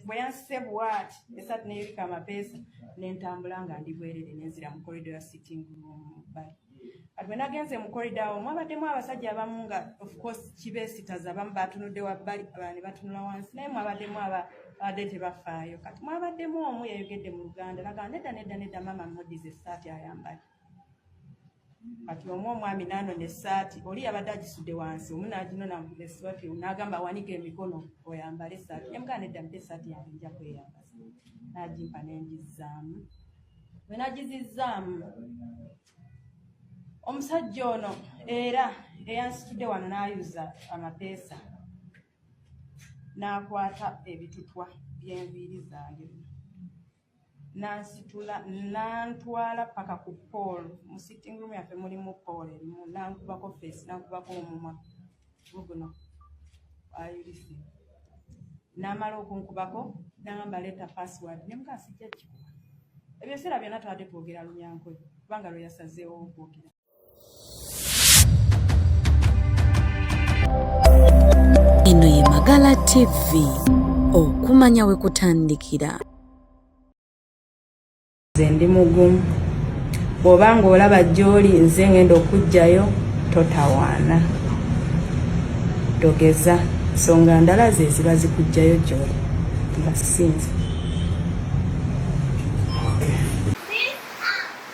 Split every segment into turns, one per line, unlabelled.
bwe yansize bwati esatu neyolika amapeesa nentambula nga ndi bwerere nenzira mu korido ya sitting room bali kati bwe nagenze mu korido awo mwabaddemu abasajja abamu nga ofcourse kibeesitaza abamu batunudde wabbali abani batunula wansi naye mwabaddemu abadde tebafaayo kati mwabaddemu omu yayogedde mu luganda nagaa nedda nedda nedda maama modize esaati ayambadde kati omu omwami nanona esaati oli yabadde agisudde wansi omu naginona esiwati nagamba awanika emikono oyambale esaati nemugaa nedda mpa esaati yange nja kweyambaza nagimpa nengizzaamu bwe nagizizzaamu omusajja ono era eyansitudde wano nayuza amapeesa nakwata ebitutwa byenviiri zange nansitula nantwala paka ku paul mu sitting room yaffe mulimu paul erimu nankubako face nankubako omumwa guguno ayulise namala okunkubako nagamba leta password nemukasijja kikuba ebyo ebiseera byonna twade twogera lunyankwe kubanga lweyasazeewo okwogera
Eno ye Magala TV okumanya we kutandikira.
Nze ndi mugumu bw'oba ng'olaba gy'oli nze ng'enda okuggyayo totawaana togeza nsonga ndala ze ziba zikuggyayo gy'oli nga sinze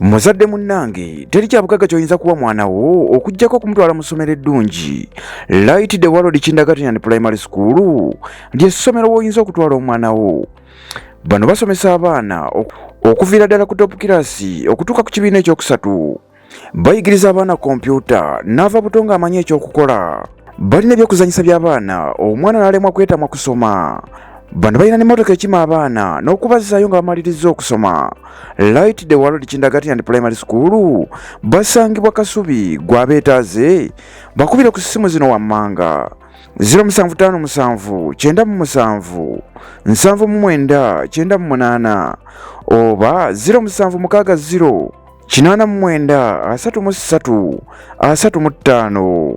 muzadde munnange teri kyabugagga kyoyinza kuwa mwana wo okugyako okumutwala mu ssomero eddungi light the world kindergarten primary school lye ssomero woyinza okutwala omwana wo bano basomesa abaana okuviira ddala ku top kirasi okutuuka ku kibiina ekyokusatu bayigiriza abaana kompyuta n'ava buto ng'amanyi ekyokukola balina ebyokuzanyisa by'abaana omwana n'alemwa kwetamwa kusoma bano balina n'emmotoka ekima abaana n'okubazzaayo nga bamalirizza okusoma light the world kindagati and primary school basangibwa kasubi gwabeetaaze bakubire ku ssimu zino wammanga 07579779 oba 0760 kinaana mu mwenda asatu mu ssatu asatu mu ttaano